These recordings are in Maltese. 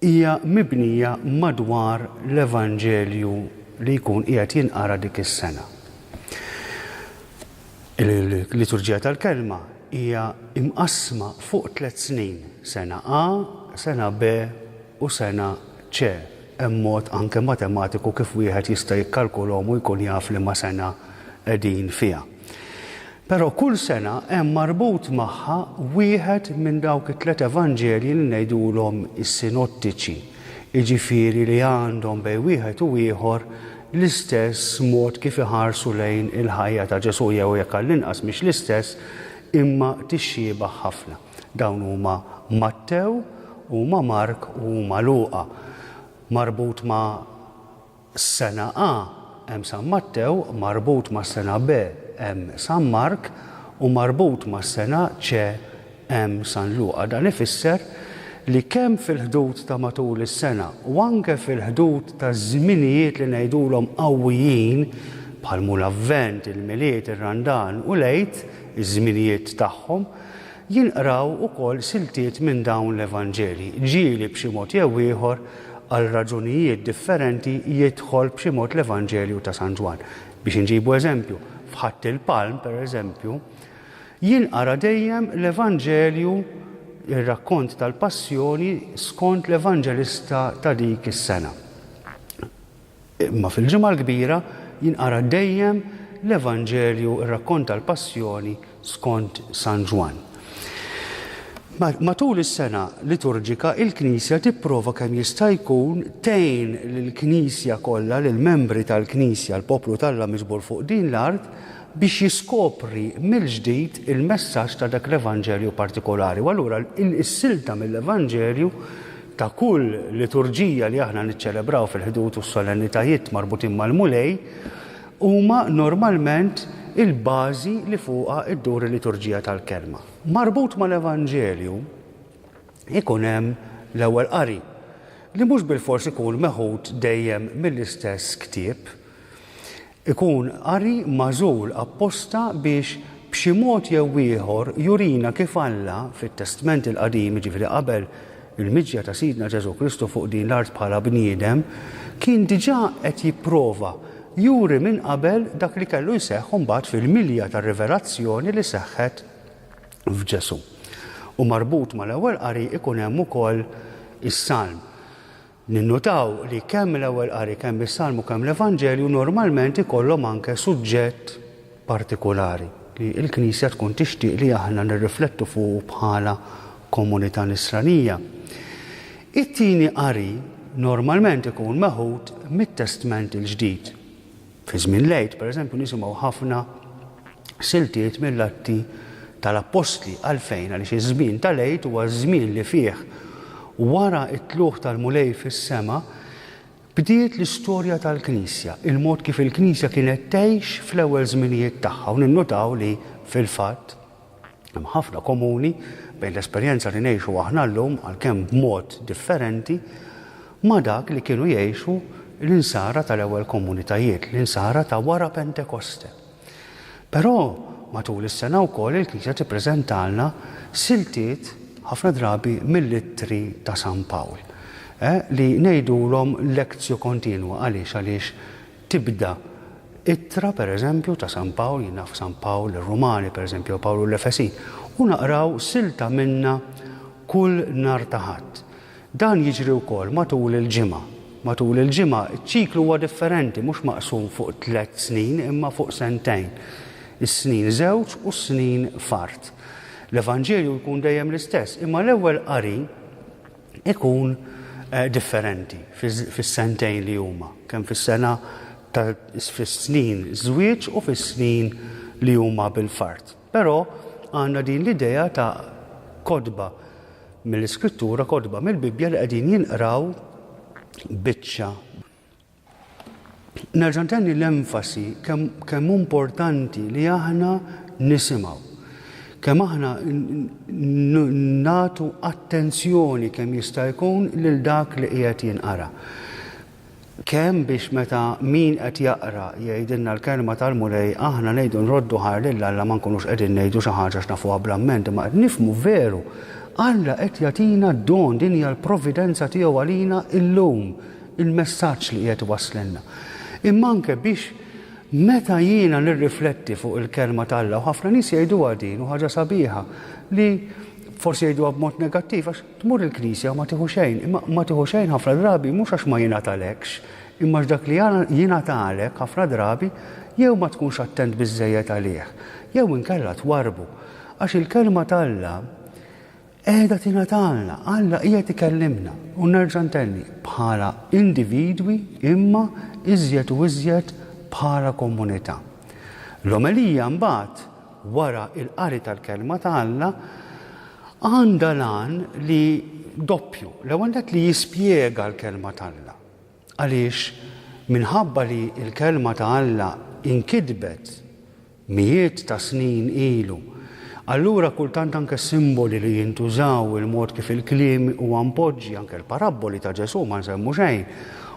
hija mibnija madwar l-Evanġelju li jkun qiegħed jinqara dik is-sena. Il-liturġija tal-kelma hija imqassma fuq tliet snin, sena A, sena B u sena C. Hemm mod anke matematiku kif wieħed jista' jikkalkulhom u jkun jaf liema sena qegħdin fiha. Però kull sena hemm marbut magħha wieħed minn dawk it-tliet Evanġelji li ngħidulhom is-sinottiċi, jiġifieri li għandhom bejn wieħed u ieħor l-istess mod kif iħarsu lejn il-ħajja ta' Ġesù jew jekk għall-inqas mhix l-istess imma tixxiebah ħafna. Dawn huma Mattew, huma Mark u huma Luqa. Marbut ma' Sena A, hemm San Mattew, marbut mas-sena B, hemm San Mark, u marbut mas-sena C, hemm San Luqa. Dan ifisser li kemm fil-ħdud ta' matul is-sena u anke fil-ħdud ta' żminijiet li ngħidulhom qawwijin, bħal mhu l-Avvent, il-Milied, ir-Randan u l-Għid, iż-żminijiet tagħhom, Jinqraw ukoll siltiet minn dawn l-Evanġelji. Ġieli b'xi mod jew ieħor, għal raġunijiet differenti, jidħol b'xi mod l-Evanġelju ta' San Ġwann. Biex inġibu eżempju, f'Ħadd il-Palm, pereżempju, jinqara dejjem l-Evanġelju, ir-rakkont tal-Passjoni skont l-Evanġelista ta' dik is-sena. Imma fil-Ġimgħa l-Kbira jinqara dejjem l-Evanġelju r-rakkont tal-Passjoni skont San Ġwann. Matul is-sena liturġika il-Knisja tipprova kemm jista' jkun tgħin lill-Knisja kollha, lill-membri tal-Knisja, l-poplu t'Alla miġbur fuq din l-art, biex jiskopri mill-ġdid il-messaġġ ta' dak l-Evanġelju partikolari. U allura is-silta mill-Evanġelju ta' kull liturġija li aħna niċċelebraw fil-ħdud u s-solennitajiet marbutin mal-Mulej huma normalment il-bażi li fuqha ddur il-liturġija tal-Kelma. Marbut mal-Evanġelju ikun hemm l-ewwel qari, li mhux bilfors ikun meħud dejjem mill-istess ktieb, Ikun qari magħżul apposta biex b'xi mod jew ieħor jurina kif Alla, fit-Testment il-Qadim, jiġifieri qabel il-miġja ta' Sidna Ġesù Kristu fuq din l-art bħala bniedem, kien diġà qed jipprova juri minn qabel dak li kellu jseħħ imbagħad fil-milja tar-rivelazzjoni li seħħet f'Ġesù. U marbut mal-Ewwel Qari ikun hemm ukoll is-Salm. Ninnutaw li kemm l-Ewwel Qari, kemm is-Salm u kemm l-Evanġelju normalment ikollhom anke suġġett partikulari li l-Knisja tkun tixtieq li aħna nirriflettu fuqu bħala komunità Nisranija. It-Tieni Qari normalment ikun meħud mit-Testment il-Ġdid. Fi żmien l-Għid, pereżempju, nisimgħu ħafna siltiet mill-Atti tal-Appostli. Għalfejn? Għaliex iż-żmien tal-Għid huwa ż-żmien li fih, wara t-tlugħ tal-Mulej fis-sema, bdiet l-istorja tal-Knisja, il-mod kif il-Knisja kienet tgħix fl-ewwel żminijiet tagħha. U ninnutaw li, fil-fatt, Hemm ħafna komuni bejn l-esperjenza li ngħixu aħna llum, għalkemm b'mod differenti, ma' dak li kienu jgħixu l-insara tal-ewwel komunitajiet, l-insara ta' wara Pentekoste. Però matul is-sena wkoll il-Knisja tippreżentalna siltiet ħafna drabi mill-Ittri ta' San Pawl, eh, li ngħidulhom lectio continua. Għaliex? Għaliex tibda ittra, per eżempju, ta' San Pawl, jien naf San Pawl lir-Rumani, per eżempju, jew Pawlu l-Efesin, u naqraw silta minnha kull nhar ta' Ħadd. Dan jiġri wkoll matul il-ġimgħa. Matul il-ġimgħa ċ-ċiklu huwa differenti, mhux maqsum fuq tliet snin, imma fuq sentejn, is-snin żewġ u s-snin f'art. L-Evanġelju jkun dejjem l-istess, imma l-ewwel qari ikun differenti fis-sentejn li huma, kemm fis-sena ta' fis-snin żwieġ u fis-snin li huma bil-fard. Però għandna din l-idea ta' kotba mill-Iskrittura, kotba mill-Bibbja li qegħdin jinqraw biċċa Nerġa' ntenni l-enfasi kemm hu importanti li aħna nisimgħu, kemm aħna nagħtu attenzjoni kemm jista' jkun lil dak li qiegħed jinqara. Kemm biex meta min qed jaqra jgħidilna l-Kelma tal-Mulej aħna ngħidu nroddu ħajr lil Alla ma nkunux qegħdin ngħidu xi ħaġa għax nafuha bl-amment imma qed nifhmu veru Alla qed jagħtina d-don, din hija l-providenza tiegħu għalina llum. il-messaġġ li qiegħed iwasslilna, imma anke biex meta jiena nirrifletti fuq il-Kelma t'Alla, u ħafna nies jgħiduha din u ħaġa sabiħa li forsi jgħiduha b'mod negattiv għax tmur il-Knisja u ma tieħu xejn, imma ma tieħu xejn ħafna drabi mhux għax ma jingħatalekx, imma għax dak li jingħatalek ħafna drabi jew ma tkunx attent biżżejjed għalih, jew inkella twarrbu. Għax il-Kelma t'Alla Qiegħda tingħatalna. Alla qiegħed ikellimna, u nerġa' ntenni, bħala individwi imma iżjed u iżjed bħala komunità. L-omelija mbagħad, wara l-qari tal-Kelma ta' Alla, għandha l-għan li doppju, l-ewwel nett li jispjega l-Kelma t'Alla. Għaliex minħabba li l-Kelma ta' Alla nkitbet Mijiet ta' snin ilu. Allura kultant anke s-simboli li jintużaw, il-mod kif il-kliem huwa mpoġġi, anke l-parabboli ta' Ġesù ma nsemmu xejn,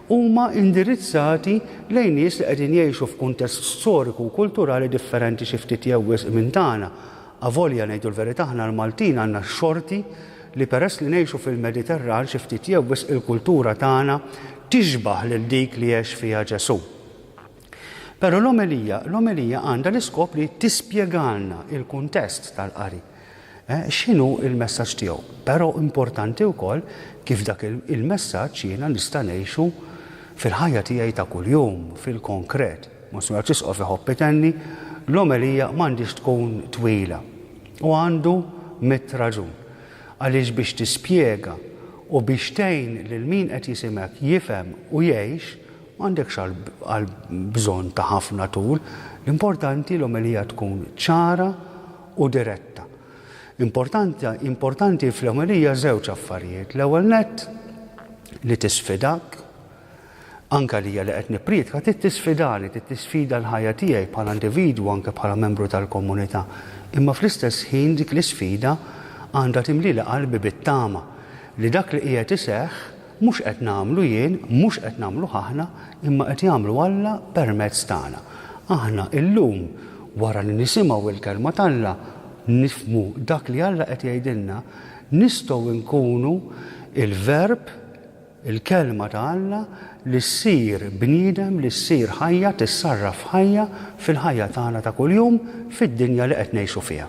huma indirizzati lejn nies li qegħdin jgħixu f'kuntest storiku u kulturali differenti xi ftit jew wisq minn tagħna. Avolja, ngħidu l-verità, aħna l-Maltin għandna x-xorti li peress li ngħixu fil-Mediterran xi ftit jew wisq il-kultura tagħna tixbah lil dik li għex fiha Ġesù. Però l-omelija, l-omelija għandha l-iskop li tispjegalna il-kuntest tal-qari. Eh, x'inhu il-messaġġ tiegħu? Però importanti wkoll kif dak il-messaġġ jiena nista' ngħixu fil-ħajja tiegħi ta' kuljum, fil-konkret. Monsignor Ċisqof iħobb itenni, l-omelija m'għandix tkun twila. U għandu mit raġun. Għaliex biex tispjega u biex tgħin lil min qed jisimek jifhem u jgħix, M'għandekx għal bżonn ta' ħafna tul. L-importanti l-omelija tkun ċara u diretta. Importanti importanti fl-omelija żewġ affarijiet. L-ewwel nett, li tisfidak. Anke għalija li qed nippriedka trid tisfidani, trid tisfida l-ħajja tiegħi bħala individwu u anke bħala membru tal-komunità. Imma fl-istess ħin dik l-isfida għandha timlieli qalbi bit-tama li dak li qiegħed iseħħ, Mhux qed nagħmlu jien, mhux qed nagħmluh aħna, imma qed jagħmlu Alla permezz tagħna. Aħna illum, wara li nisimgħu l-Kelma t'Alla, nifhmu dak li Alla qed jgħidilna, nistgħu nkunu l-Verb, il-Kelma ta' Alla, li ssir bniedem, li ssir ħajja, tissarraf f'ħajja, fil-ħajja tagħna ta' kuljum, fid-dinja li qed ngħixu fiha.